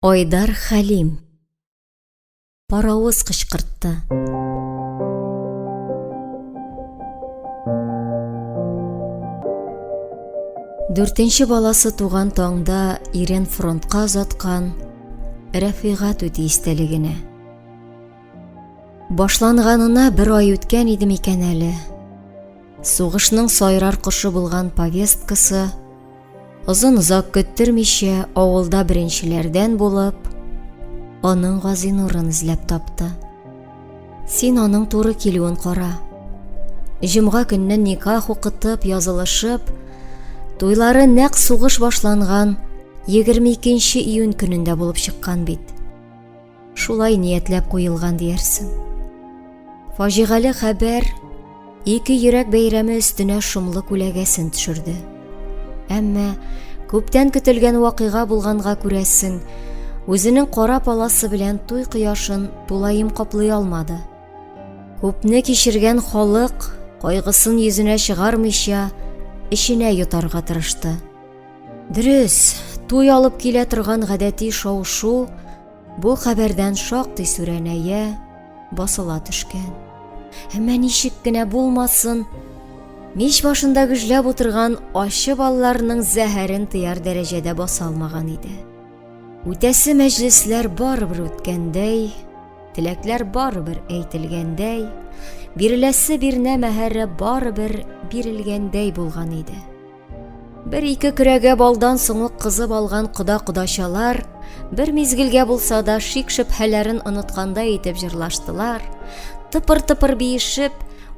Айдар Хәлим. Паравыз кычкыртты. Дүртенче баласы туган таңда ирен фронтка озаткан Рәфигат үти истәлегенә. Башланганына бер ай үткән иде микән әле. Сугышның сайрар кошы булган повесткасы озын-озак көттермичә авылда беренчеләрдән булып, аның Газинурын эзләп тапты. Син аның туры килүен кара. Җомга көннән никах укытып, язылышып, туйлары нәкъ сугыш башланган 22 июнь көнендә булып чыккан бит. Шулай ниятләп куелган диярсең. Фаҗигале хәбәр ике йөрәк бәйрәме өстенә шомлы күләгәсен төшерде. Әмма күптән көтелгән вакыйга булганга күрәсең, үзенең кара паласы белән туй кояшын тулаем каплый алмады. Күпне кичергән халык кайгысын йөзенә чыгармыйча, эченә йотарга тырышты. Дөрес, туй алып килә торган гадәти шау-шу бу хәбәрдән шактый сүрәнәя, басыла төшкән. Әмма ничек кенә булмасын, мич башында гөжләп утырган ачы балларның зәһәрен тыяр дәрәҗәдә баса алмаган иде. Үтәсе мәҗлесләр барыбер үткәндәй, теләкләр барыбер әйтелгәндәй, биреләсе бирнә мәһәре барыбер бирелгәндәй булган иде. Бер ике көрәгә балдан соң ук кызып алган кода-кодачалар бер мизгелгә булса да шик-шөбһәләрен оныткандай итеп җырлаштылар, тыпыр-тыпыр биешеп,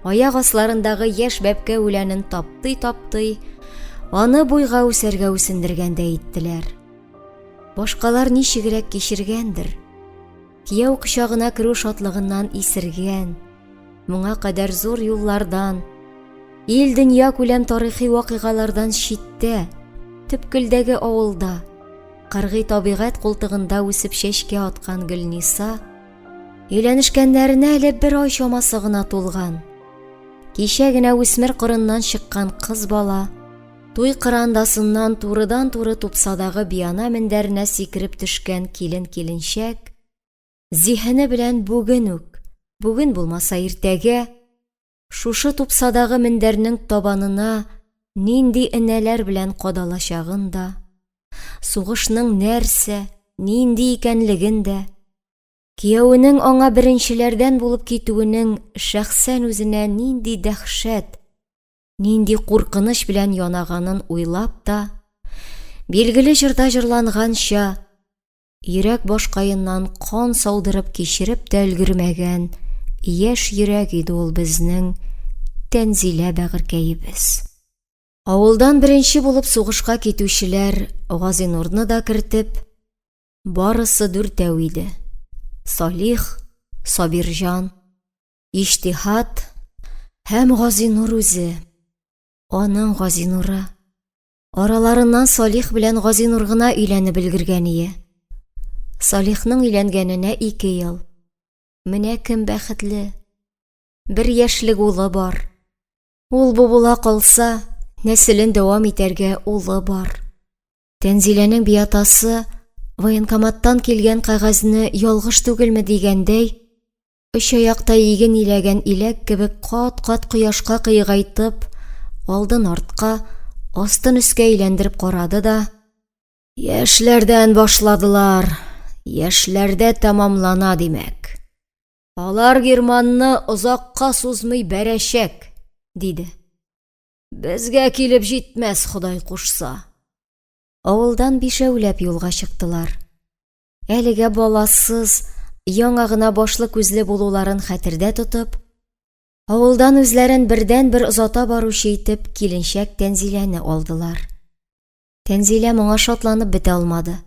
аяк асларындагы яшь бәбкә үләнен таптый-таптый, аны буйга үсәргә үсендергәндәй иттеләр. Башкалар ничегрәк кичергәндер, Кияү кочагына керү шатлыгыннан исергән, моңа кадәр зур юллардан, ил дөнья күләм тарихи вакыйгалардан читтә, төпкелдәге авылда, кыргый табигать култыгында үсеп чәчкә аткан Гөлниса, өйләнешкәннәренә әле бер ай чамасы гына тулган, кичә генә үсмер кырыннан чыккан кыз бала, Туй кырандасыннан турыдан-туры тупсадагы биана мендәренә сикереп төшкән килен-киленчәк, зиһене белән бүген үк, бүген булмаса иртәгә, шушы тупсадагы мендәрнең табанына нинди энәләр белән кадалачагын да, сугышның нәрсә, нинди икәнлеген дә, кияүенең аңа беренчеләрдән булып китүенең шәхсән үзенә нинди дәһшәт, нинди куркыныч белән янаганын уйлап та, билгеле җырда җырланганча, йөрәк башкаеннан кан саудырып кичереп тә өлгермәгән яшь йөрәк иде ул безнең Тәнзилә бәгырькәебез. Авылдан беренче булып сугышка китүчеләр Газинурны да кертеп, барысы дүртәү иде. Салих, Сабирҗан, Иҗтиһат һәм Газинур үзе, аның Газинуры. Араларыннан Салих белән Газинур гына өйләнеп өлгергәние. Салихның өйләнгәненә ике ел. Менә кем бәхетле. Бер яшьлек улы бар. Ул бу була калса, нәселен дәвам итәргә улы бар. Тәнзиләнең биатасы военкоматтан килгән кәгазьне ялгыш түгелме дигәндәй, Очаякта иген иләгән иләк кебек кат-кат кояшка кыегайтып, алдын-артка, астын-өскә әйләндереп карады да: – Яшьләрдән башладылар, яшьләрдә тәмамлана, димәк. Алар Германны озакка сузмый бәрәчәк, – диде. – Безгә килеп җитмәс, Ходай кушса. Авылдан бишәүләп юлга чыктылар. Әлегә баласыз, яңа гына башлы күзле булуларын хәтердә тотып, авылдан үзләрен бердән-бер озата баручы итеп киленшәк Тәнзиләне алдылар. Тәнзилә моңа шатланып бетә алмады.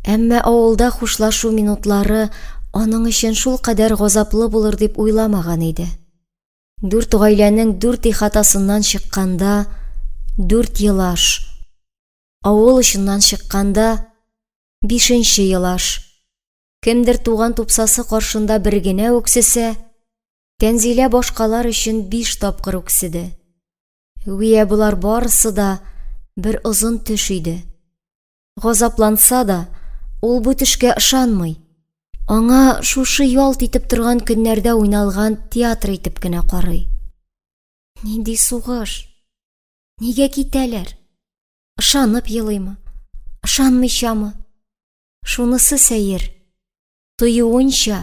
Әмма авылда хушлашу минутлары аның өчен шул кадәр газаплы булыр дип уйламаган иде. Дүрт гаиләнең дүрт ихатасыннан чыкканда, дүрт елаш, авыл очыннан чыкканда, Бишенче елаш. Кемдер туган тупсасы каршында бер генә үксесә, Тәнзилә башкалар өчен биш тапкыр үкседе. Гүя болар барысы да бер озын төш иде. Газапланса да, ул бу төшкә ышанмый. Аңа шушы ялт итеп торган көннәрдә уйналган театр итеп кенә карый. Нинди сугыш? Нигә китәләр? Ышанып елыймы? Ышанмыйчамы? Шунысы сәер. Тоюынча,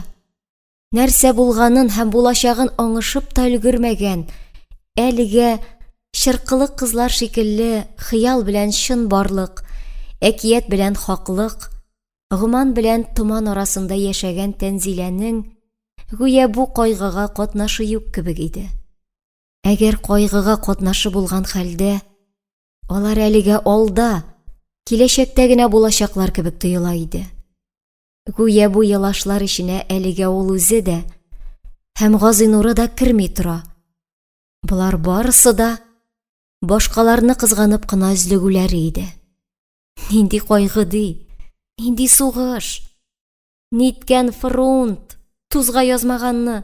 нәрсә булганын һәм булачагын аңышып та өлгермәгән, әлегә чыркылык кызлар шикелле хыял белән чын барлык, әкият белән хаклык, гоман белән томан арасында яшәгән Тәнзиләнең гүя бу кайгыга катнашы юк кебек иде. Әгәр кайгыга катнашы булган хәлдә, Алар әлегә алда, киләчәктә генә булачаклар кебек тоела иде. Гүя бу елашлар эченә әлегә ул үзе дә һәм Газинуры да керми тора. Болар барысы да башкаларны кызганып кына өзлегүләре иде. Нинди кайгы ди, нинди сугыш! Ниткән фронт, тузга язмаганны!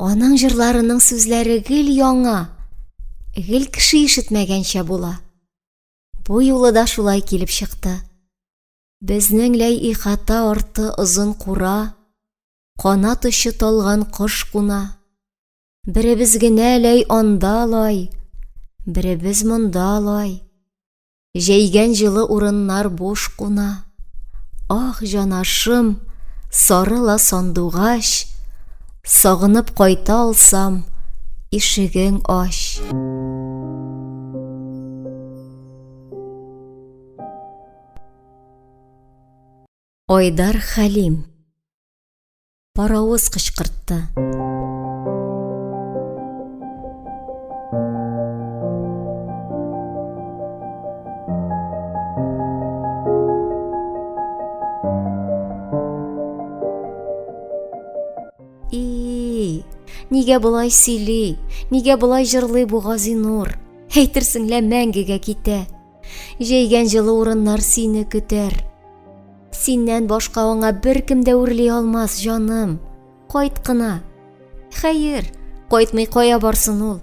Аның җырларының сүзләре гел яңа, гел кеше ишетмәгәнчә була. Бу юлы да шулай килеп чыкты. Безнең ләй ихата арты озын кура, канат очы талган кош куна. Беребез генә ләй анда лай, беребез монда лай. Җәйгән җылы урыннар буш куна. Ах, җанашым, сарыла сандугач, Сагынып кайта алсам, ишегең ач. Айдар Хәлим Паровоз кычкыртты. Нигә болай сөйли, нигә болай җырлый бу Газинур? Әйтерсең лә мәңгегә китә. Җәйгән җылы урыннар сине көтәр. Синнән башка аңа беркем дә үрли алмас, җаным. Кайт кына. Хәер, кайтмый кая барсын ул?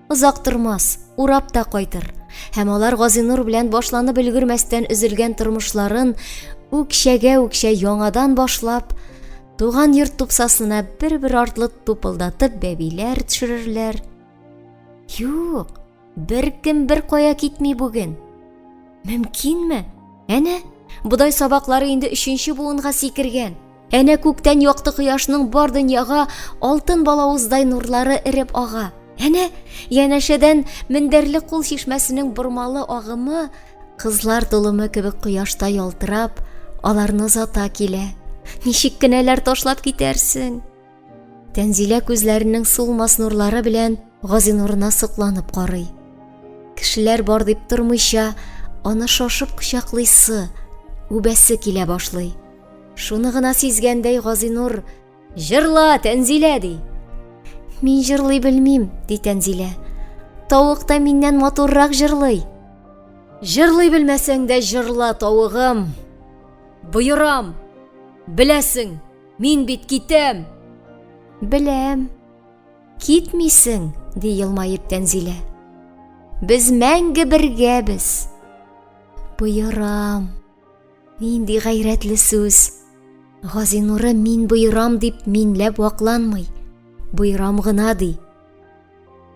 Озак тормас, урап та кайтыр. Һәм алар Газинур белән башланып өлгермәстән өзелгән тормышларын үкчәгә-үкчә яңадан башлап, туган йорт тупсасына бер-бер артлы тупылдатып бәбиләр төшерерләр. Юк, Беркем беркая китми бүген. Мөмкинме? Әнә, бодай сабаклары инде өченче буынга сикергән. Әнә күктән якты кояшның бар дөньяга алтын балавыздай нурлары эреп ага. Әнә, янәшәдән мендәрле кул чишмәсенең бормалы агымы, кызлар толымы кебек кояшта ялтырап, аларны озата килә. Ничек кенә ләр ташлап китәрсең? Тәнзилә күзләренең сулмас нурлары белән Газинурына сокланып карый. Кешеләр бар дип тормыйча, аны шашып кочаклыйсы, үбәсе килә башлый. Шуны гына сизгәндәй, Газинур «Җырла, Тәнзилә!» ди. «Мин җырлый белмим», – ди Тәнзилә. «Тавык та миннән матуррак җырлый!» Җырлый белмәсәң дә җырла, тавыгым! Боерам! Беләсең! Мин бит китәм! Беләм. Китмисең, ди елмаеп Тәнзилә. Без мәңге бергәбез. Боерам. Нинди гайрәтле сүз. Газинуры мин боерам дип минләп вакланмый, боерам гына ди.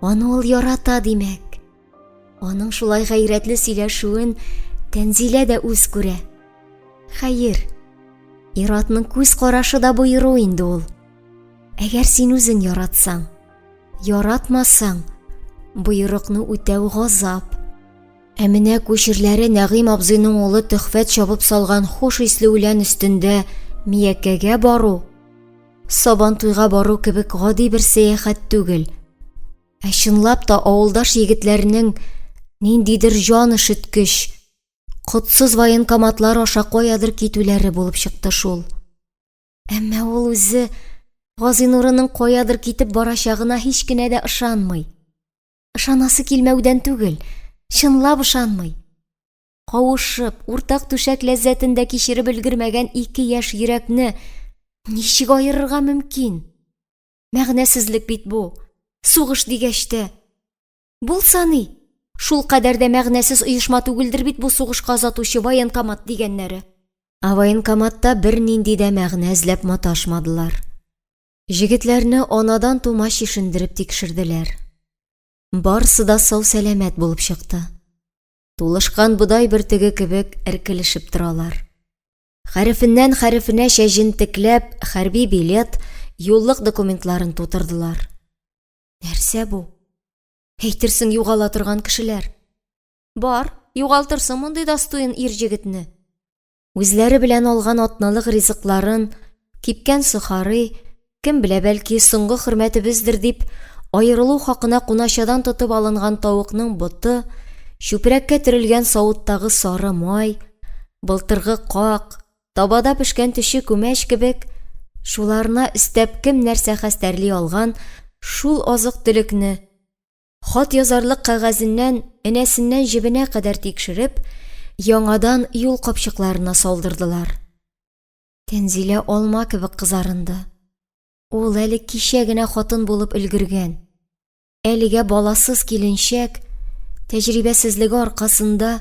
Аны ул ярата, димәк. Аның шулай гайрәтле сөйләшүен Тәнзилә дә үз күрә. Хәер, ир-атның күз карашы да боеру инде ул. Әгәр син үзең яратсаң, яратмасаң, боерыкны үтәү газап. Ә менә күчерләре Нәгыйм абзыйның улы Төхфәт чабып салган хуш исле үлән өстендә Миякәгә бару, Сабантуйга бару кебек гади бер сәяхәт түгел. Ә чынлап та авылдаш егетләрнең ниндидер җан өшеткеч, котсыз военкоматлар аша каядыр китүләре булып чыкты шул. Әмма ул үзе Газинурының каядыр китеп барачагына һич кенә дә ышанмый. Ышанасы килмәүдән түгел, чынлап ышанмый. Кавышып, уртак түшәк ләззәтен дә кичереп өлгермәгән ике яшь йөрәкне ничек аерырга мөмкин? Мәгънәсезлек бит бу. Сугыш дигәч тә. Булса ни? Шул кадәр дә мәгънәсез оешма түгелдер бит бу сугышка озатучы военкомат дигәннәре. Ә военкоматта бернинди дә мәгънә эзләп маташмадылар. Җегетләрне анадан тума чишендереп тикшерделәр. Барсы да сау-сәламәт булып чыкты. Тулышкан бодай бөртеге кебек эркелешеп торалар. Хәрефеннән хәрефенәчә җентекләп хәрби билет, юллык документларын тутырдылар. Нәрсә бу? Әйтерсең югала торган кешеләр. Бар, югалтырсың мондый дастоен ир җегетне. Үзләре белән алган атналык ризыкларын, кипкән сухарый, Кем белә, бәлки, соңгы хөрмәтебездер дип, аерылу хакына куначадан тотып алынган тавыкның боты, чүпрәккә төрелгән савыттагы сары май, былтыргы как, табада пешкән төче күмәч кебек, шуларына өстәп кем нәрсә хәстәрли алган, шул азык-төлекне, хат язарлык кәгазеннән энәсеннән җебенә кадәр тикшереп, яңадан юл капчыкларына салдырдылар. Тәнзилә алма кебек кызарынды. Ул әле кичә генә хатын булып өлгергән. Әлегә баласыз киленчәк, тәҗрибәсезлеге аркасында,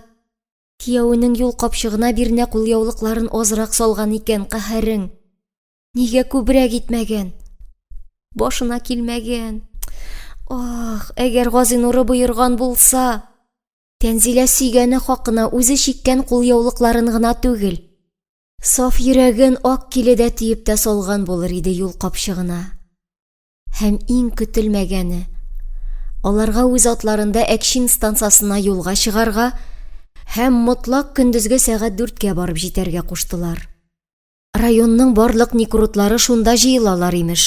киявенең юл капчыгына бирнә кулъяулыкларын азрак салган икән, каһәрең! Нигә күбрәк итмәгән? Башына килмәгән. Аһ, әгәр Газинуры боерган булса! Тәнзилә сөйгәне хакына үзе чиккән кулъяулыкларын гына түгел, Саф йөрәген ак киледә тиеп тә салган булыр иде юл капчыгына. Һәм иң көтелмәгәне, аларга үз атларында Әкчин станциясына юлга чыгарга һәм мотлак көндезге сәгать дүрткә барып җитәргә куштылар. Районның барлык никрутлары шунда җыелалар, имеш.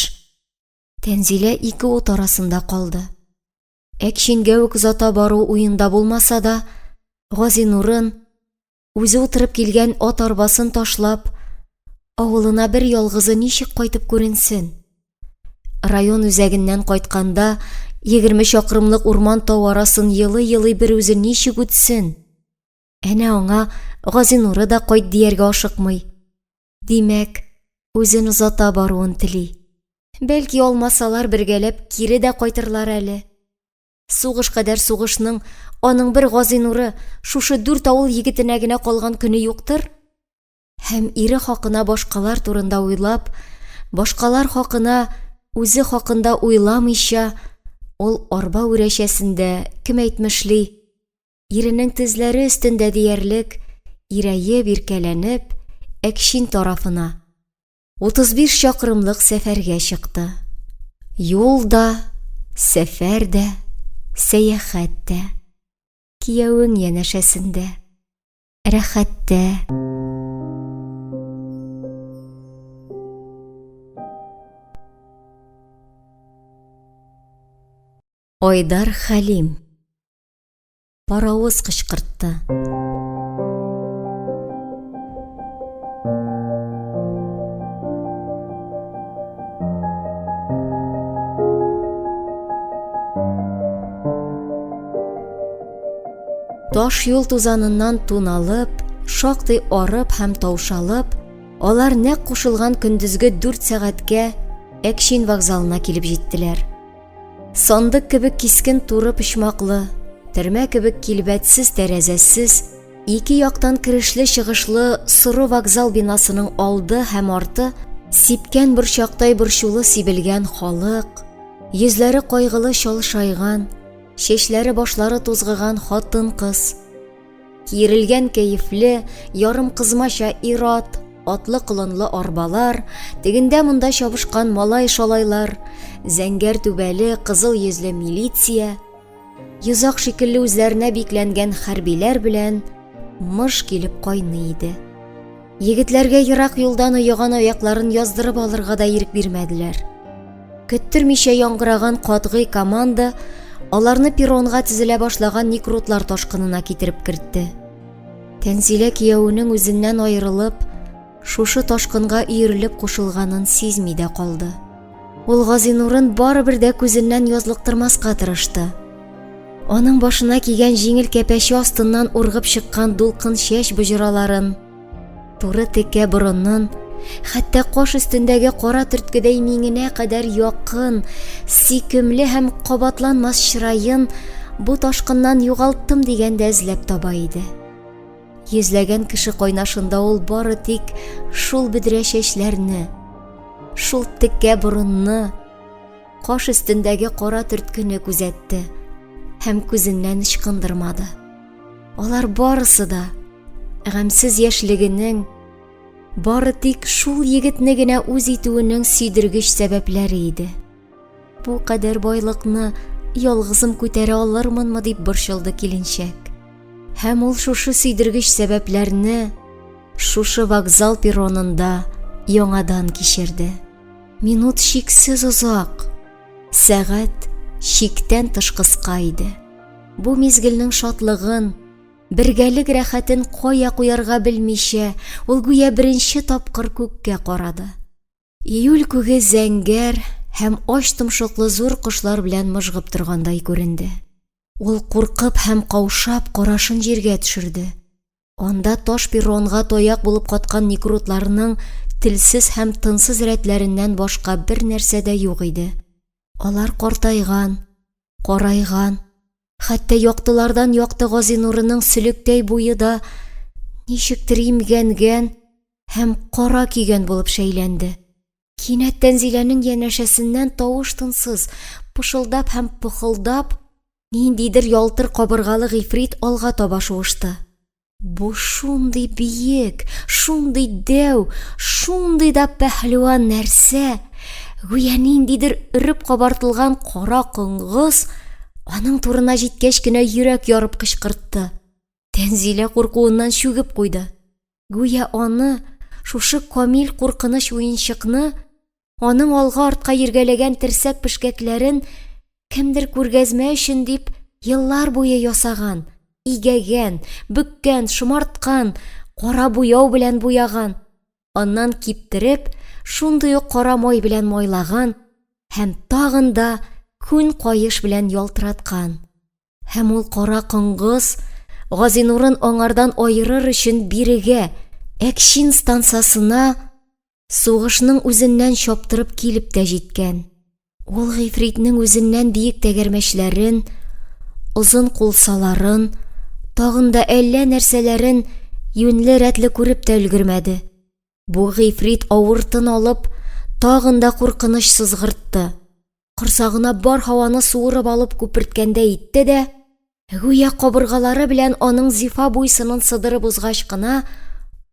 Тәнзилә ике ут арасында калды. Әкчингә үк озата бару уенда булмаса да, Газинурын, Үзе утырып килгән ат арбасын ташлап, авылына бер ялгызы ничек кайтып күренсен? Район үзәгеннән кайтканда, егерме чакрымлык урман-тау арасын елый-елый бер үзе ничек үтсен? Әнә аңа Газинуры да кайт дияргә ашыкмый. Димәк, үзен озата баруын тели. Бәлки, алмасалар, бергәләп кире дә кайтырлар әле. Сугыш кадәр сугышның аның бер гази нуры шушы дүрт авыл егетенә генә калган көне юктыр? Һәм ире хакына башкалар турында уйлап, башкалар хакына үзе хакында уйламыйча, ул арба үрәчәсендә, кем әйтмешли, иренең тезләре өстендә диярлек, ирәеп, иркәләнеп, Әкчин тарафына, 35 чакрымлык сәфәргә чыкты. Юл да, сәфәр дә, сәяхәт тә. Кияүең янәшәсендә. Рәхәттә. Айдар Хәлим Паровоз кычкыртты. Таш юл тузаныннан тун алып, шактый арып һәм таушалып, алар нәкъ кушылган көндезге дүрт сәгатькә Әкшин вокзалына килеп җиттеләр. Сандык кебек кискен туры почмаклы, термә кебек килбәтсез тәрәзәсез, ике яктан керешле чыгышлы соры вокзал бинасының алды һәм арты сипкән борчактай борчулы сибелгән халык, йөзләре кайгылы чалшайган, чәчләре башлары тузгыган хатын-кыз, Киерелгән кәефле, ярым кызмача ир-ат, атлы-колынлы арбалар, тегендә-монда чабышкан малай-шалайлар, зәңгәр түбәле, кызыл йөзле милиция, йозак шикелле үзләренә бикләнгән хәрбиләр белән мыш килеп кайный иде. Егетләргә ерак юлдан оеган аякларын яздырып алырга да ирек бирмәделәр. Көттермичә яңгыраган катгый команда аларны перронга тезелә башлаган некрутлар ташкынына китереп кертте. Тәнзилә кияүенең үзеннән аерылып, шушы ташкынга өерелеп кушылганын сизми дә калды. Ул Газинурын барыбер дә күзеннән язлыктырмаска тырышты. Аның башына кигән җиңел кәпәче астыннан ургып чыккан дулкын чәч боҗраларын, туры текә борынын, хәтта каш өстендәге кара төрткедәй миңенә кадәр якын, сөйкемле һәм кабатланмас чыраен бу ташкыннан югалтам дигәндә эзләп таба иде. Йөзләгән кеше кайнашында ул бары тик шул бөдрә чәчләрне, шул текә борынны, каш өстендәге кара төрткене күзәтте һәм күзеннән ычкындырмады. Алар барысы да гамьсез яшьлегенең бары тик шул егетне генә үз итүенең сөйдергеч сәбәпләре иде. Бу кадәр байлыкны ялгызым күтәрә алырмынмы дип борчылды киленчәк. Һәм ул шушы сөйдергеч сәбәпләрне шушы вокзал перронында яңадан кичерде. Минут чиксез озак. Сәгать чиктән тыш кыска иде. Бу мизгелнең шатлыгын, бергәлек рәхәтен кая куярга белмичә, ул гүя беренче тапкыр күккә карады. Июль күге зәңгәр һәм ач томшыклы зур кошлар белән мыжгып торгандай күренде. Ул, куркып һәм каушап, карашын җиргә төшерде. Анда таш перронга таяк булып каткан некрутларның телсез һәм тынсыз рәтләреннән башка бернәрсә дә юк иде. Алар картайган, карайган, Хәтта яктылардан якты Газинурының сөлектәй буе да ничектер имгәнгән һәм кара көйгән булып шәйләнде. Кинәт Тәнзиләнең янәшәсеннән тавыш-тынсыз, пышылдап һәм пыхылдап, ниндидер ялтыр кабыргалы гыйфрит алга таба шуышты. Бу шундый биек, шундый дәү, шундый да пәһлеван нәрсә, гүя ниндидер өреп кабартылган кара коңгыз, аның турына җиткәч кенә йөрәк ярып кычкыртты. Тәнзилә куркуыннан чүгеп куйды. Гүя аны, шушы камил куркыныч уенчыкны, аның алга-артка йөргәләгән терсәк пешкәкләрен кемдер күргәзмә өчен дип еллар буе ясаган, игәгән, бөккән, шомарткан, кара буяу белән буяган, аннан киптереп, шундый ук кара май белән майлаган һәм тагын да күн каеш белән ялтыраткан. Һәм ул кара коңгыз Газинурын аңардан аерыр өчен бирегә, Әкчин станцасына Сугышның үзеннән чаптырып килеп тә җиткән. Ул гыйфритнең үзеннән биек тәгәрмәчләрен, озын кулсаларын, тагын да әллә нәрсәләрен юньле рәтле күреп тә өлгермәде. Бу гыйфрит авыр тын алып, тагын да куркыныч сызгыртты. корсагына бар һаваны суырып алып күперткәндәй итте дә, гүя кабыргалары белән аның зифа буй-сынын сыдырып узгач кына,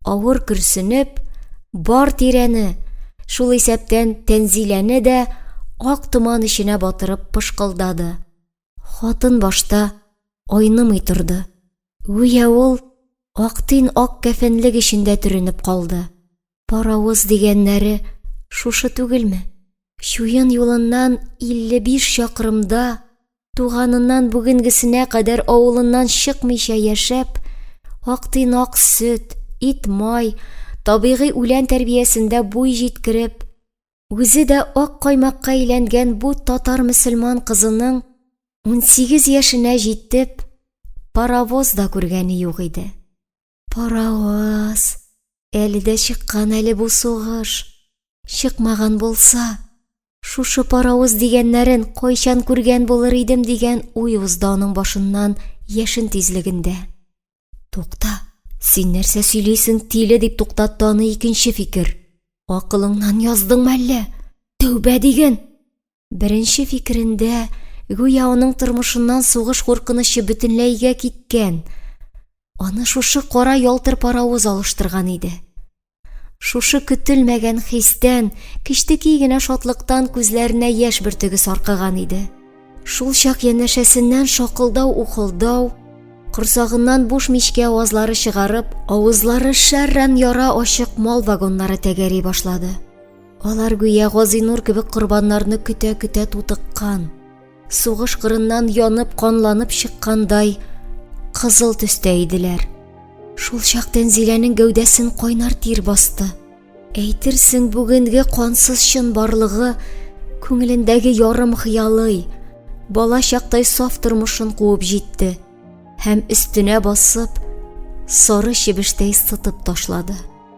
авыр көрсенеп, бар тирәне, шул исәптән Тәнзиләне дә ак томан эченә батырып пышкылдады. Хатын башта айнымый торды, гүя ул ак төн ак кәфенлек эчендә төренеп калды. Паравыз дигәннәре шушы түгелме? Чуен юлыннан 55 чакрымда, туганыннан бүгенгесенә кадәр авылыннан чыкмыйча яшәп, актыйнак сөт, ит-май, табигый үлән тәрбиясендә буй җиткереп, Үзе дә ак каймакка әйләнгән бу татар-мөселман кызының унсигез яшенә җитеп, паровоз да күргәне юк иде. Паровоз! Әле дә чыккан әле бу сугыш! Чыкмаган булса, шушы паровоз дигәннәрен кайчан күргән булыр идем, дигән уй узды аның башыннан яшен тизлегендә. Тукта, син нәрсә сөйлисең, тиле, дип туктатты аны икенче фикер. Акылыңнан яздыңмы әллә? Тәүбә диген! Беренче фикерендә, гүя аның тормышыннан сугыш куркынычы бөтенләйгә киткән, аны шушы кара ялтыр паравоз алыштырган иде. Шушы көтелмәгән хистән, кечтеки генә шатлыктан күзләренә яшь бөртеге саркыган иде. Шул чак янәшәсеннән шакылдау-ухылдау, корсагыннан буш мичкә авазлары чыгарып, авызлары шәрран яра ачык мал вагоннары тәгәри башлады. Алар гүя Газинур кебек корбаннарны көтә-көтә тутыккан. Сугыш кырыннан янып, канланып чыккандай кызыл төстә иделәр. Шул чак Тәнзиләнең гәүдәсен кайнар тир басты. Әйтерсең, бүгенге кансыз чын барлыгы күңелендәге ярым хыялый, бала чактай саф тормышын куып җитте һәм өстенә басып, сары чебештәй сытып ташлады.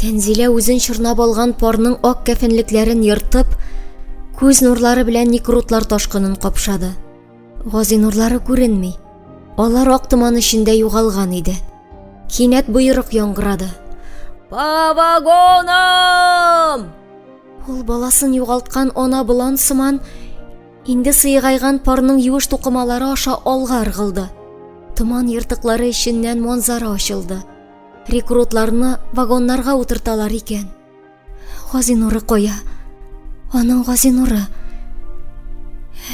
Тәнзилә үзен чорнап алган парның ак кәфенлекләрен ертып, күз нурлары белән никрутлар ташкынын капшады. Гази нурлары күренми. Алар ак томан эчендә югалган иде. Кинәт боерык яңгырады. По вагонам! Ул баласын югалткан ана болан сыман инде сыегайган парның юеш тукымалары аша алга ыргылды. Томан ертыклары эченнән манзара ачылды. Рекрутларны вагоннарга утырталар икән. Газинуры кая? Аның Газинуры.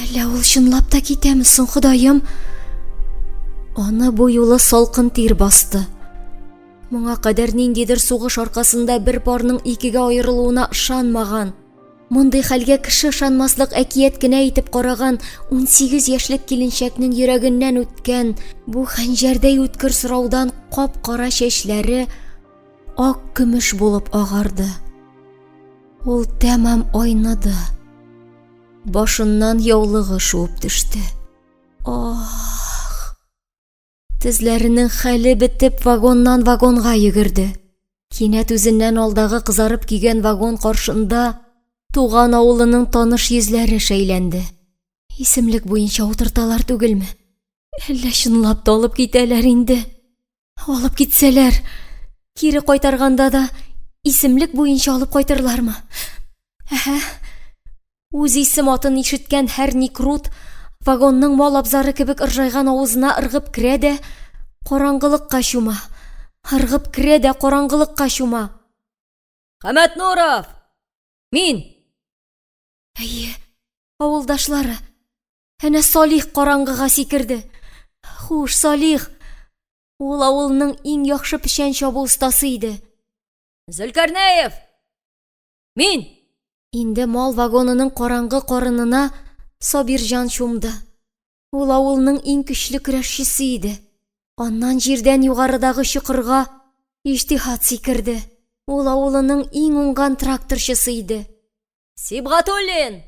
Әллә ул чынлап та китәме соң, Ходаем? Аны бу юлы салкын тир басты. Моңа кадәр ниндидер сугыш аркасында бер парның икегә аерылуына ышанмаган. Мондый хәлгә кеше ышанмаслык әкият кенә итеп караган 18 яшьлек киленчәкнең йөрәгеннән үткән бу хәнҗәрдәй үткер сораудан кап-кара чәчләре ак көмеш булып агарды. Ул тәмам айныды. Башыннан яулыгы шуып төште. Ох! Тезләренең хәле бетеп, вагоннан вагонга йөгерде. Кинәт үзеннән алдагы кызарып көйгән вагон каршында туган авылының таныш йөзләре шәйләнде. Исемлек буенча утырталар түгелме? Әллә чынлап та алып китәләр инде? Алып китсәләр, кире кайтарганда да исемлек буенча алып кайтырлармы? Әһә. Үз исем-атын ишеткән һәр Никрут вагонның мал абзары кебек ыржайган авызына ыргып керә дә караңгылыкка чума. Ыргып керә дә караңгылыкка чума. Хәмәтнуров! Мин! Әйе, авылдашлары. Әнә Салих караңгыга сикерде. Хуш, Салих! Ул авылның иң яхшы печән чабу остасы иде. Зөлкарнәев! Мин! Инде мал вагонының караңгы карынына Сабирҗан чумды. Ул авылның иң көчле көрәшчесе иде. Аннан җирдән югарыдагы чокырга Иҗтиһат сикерде. Ул авылының иң уңган тракторчысы иде. Сибгатуллин!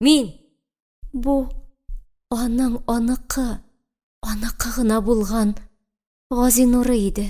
Мин! Бу аның аныкы, аныкы гына булган Газинуры иде.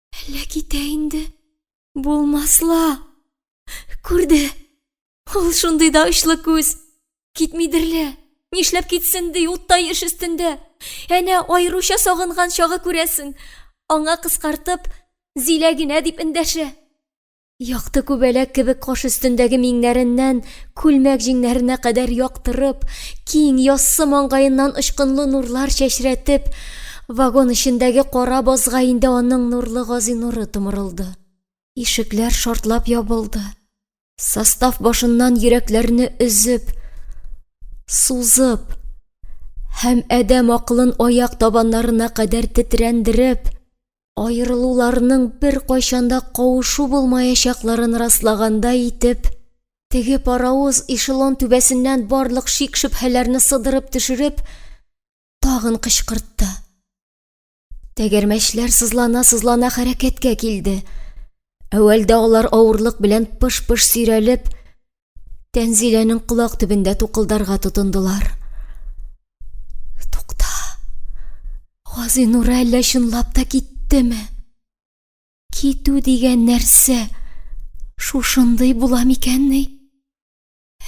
Әллә китә инде? Булмасла! Күрде! Ул шундый да очлы күз! Китмидер лә! Нишләп китсен ди, уттай эш өстендә! Әнә аеруча сагынган чагы күрәсең! Аңа кыскартып, Зилә генә дип эндәшә. Якты күбәләк кебек каш өстендәге миңнәреннән күлмәк җиңнәренә кадәр яктырып, киң, яссы маңгаеннан очкынлы нурлар чәчрәтеп, вагон эчендәге кара базга инде аның нурлы гази нуры томырылды. Ишекләр шартлап ябылды. Состав башыннан йөрәкләрне өзеп, сузып һәм адәм акылын аяк табаннарына кадәр тетрәндереп, аерылуларның беркайчан да кавышу булмаячакларын раслагандай итеп, теге паровоз эшелон түбәсеннән барлык шик-шөбһәләрне сыдырып төшереп, тагын кычкыртты. Тәгәрмәчләр сызлана-сызлана хәрәкәткә килде. Әүвәлдә алар авырлык белән пыш-пыш сөйрәлеп, Тәнзиләнең колак төбендә тукылдарга тотындылар. Тукта, Газинур әллә чынлап та киттеме? Китү дигән нәрсә шушындый була микәнни?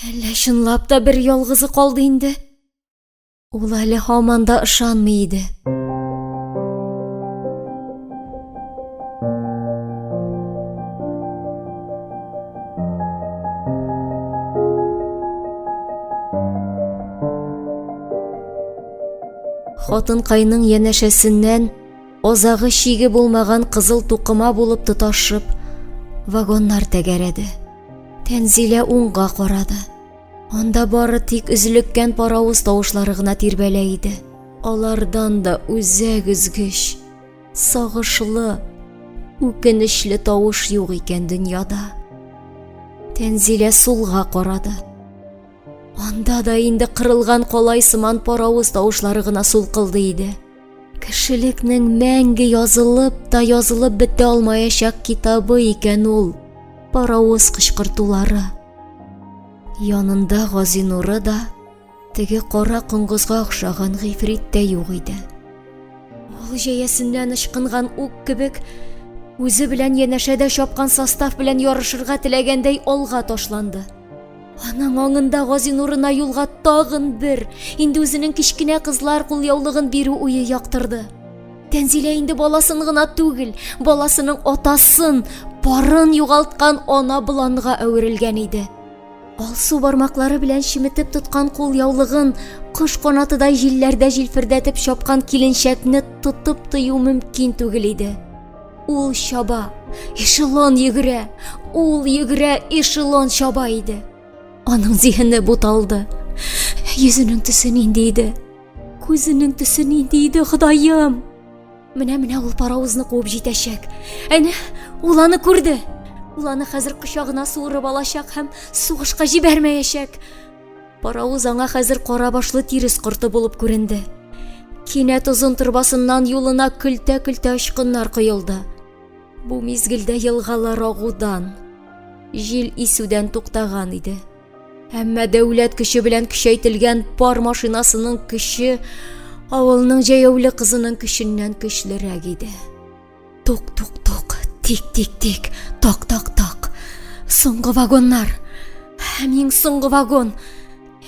Әллә чынлап та бер ялгызы калды инде? Ул әле һаман да ышанмый иде. Хатынкайның янәшәсеннән озагы чиге булмаган кызыл тукыма булып тоташып, вагоннар тәгәрәде. Тәнзилә уңга карады. Анда бары тик өзлеккән паравыз тавышлары гына тирбәлә иде. Алардан да үзәк өзгеч, сагышлы, үкенечле тавыш юк икән дөньяда. Тәнзилә сулга карады. Анда да инде кырылган калай сыман паравыз тавышлары гына сулкылдый иде. Кешелекнең мәңге язылып та язылып бетә алмаячак китабы икән ул, паровоз кычкыртулары. Янында Газинуры да, теге кара коңгызга охшаган гыйфрит тә юк иде. Ул җәясеннән ычкынган ук кебек, үзе белән янәшәдә чапкан состав белән ярышырга теләгәндәй алга ташланды. Аның аңында Газинурына юлга тагын бер, инде үзенең кечкенә кызлар кулъяулыгын бирү уе яктырды. Тәнзилә инде баласын гына түгел, баласының атасын, парын югалткан ана боланга әверелгән иде. Алсу бармаклары белән чеметеп тоткан кулъяулыгын кош канатыдай җилләрдә җилфердәтеп чапкан киленчәкне тотып тыю мөмкин түгел иде. Ул чаба, эшелон йөгерә, ул йөгерә, эшелон чаба иде. Аның зиһене буталды. Йөзенең төсе нинди иде? Күзенең төсе нинди иде, Ходаем? Менә-менә ул паровозны куып җитәчәк. Әнә, ул аны күрде. Ул аны хәзер кочагына суырып алачак һәм сугышка җибәрмәячәк. Паравыз аңа хәзер кара башлы тирес корты булып күренде. Кинәт озын торбасыннан юлына көлтә-көлтә очкыннар коелды. Бу мизгелдә елгалар агудан, җил исүдән туктаган иде. Әмма дәүләт көче белән көчәйтелгән пар машинасының көче авылның җәяүле кызының көченнән көчлерәк иде. Тук-тук-тук, тик-тик-тик, так-так-так. Соңгы вагоннар. Һәм иң соңгы вагон.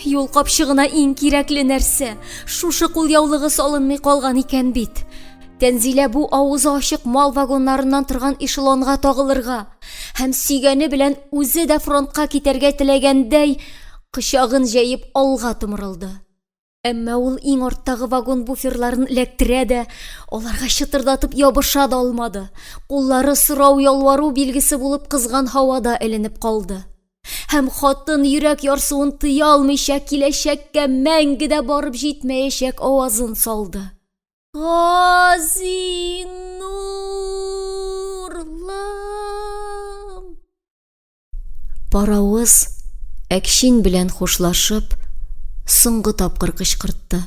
Юл капчыгына иң кирәкле нәрсә. Шушы кулъяулыгы салынмый калган икән бит. Тәнзилә бу авызы ачык мал вагоннарыннан торган эшелонга тагылырга һәм сөйгәне белән үзе дә фронтка китәргә теләгәндәй, кочагын җәеп алга томырылды. Әмма ул иң арттагы вагон буферларын эләктерә дә, аларга чытырдатып ябыша да алмады. Куллары сорау-ялвару билгесе булып кызган һавада эленеп калды. Һәм хатын, йөрәк ярсуын тыя алмыйча, киләчәккә мәңге дә барып җитмәячәк авазын салды. Газинурлым! Паравыз әкшин белән хушлашып, соңгы тапкыр кычкыртты.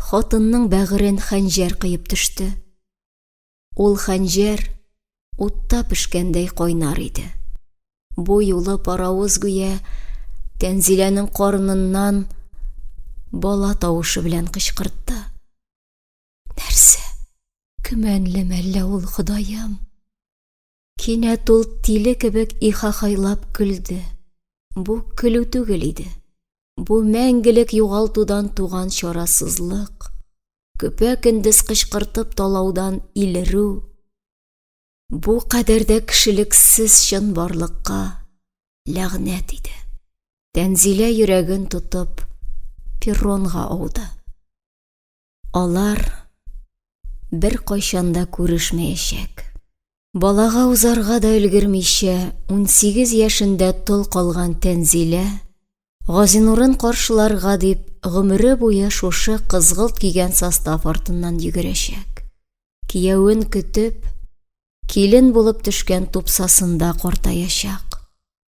Хатынның бәгырен хәнҗәр кыеп төште. Ул хәнҗәр утта пешкәндәй кайнар иде. Бу юлы паравыз гүя Тәнзиләнең карныннан бала тавышы белән кычкыртты. Нәрсә? Көмәнле мәллә ул, Ходаем? Кинәт ул тиле кебек ихахайлап көлде. Бу көлү түгел иде. Бу мәңгелек югалтудан туган чарасызлык, көпә-көндез кычкыртып талаудан илерү, бу кадәр дә кешелексез чынбарлыкка ләгънәт иде. Тәнзилә йөрәген тотып, перронга ауды. Алар бер кайчанда күрешмәячәк. Балага узарга да өлгермичә, 18 яшендә тол калган Тәнзилә, Газинурын каршыларга дип, гомере буе шушы кызгылт кигән состав артыннан йөгерәчәк. Киявен көтеп, килен булып төшкән тупсасында картаячак.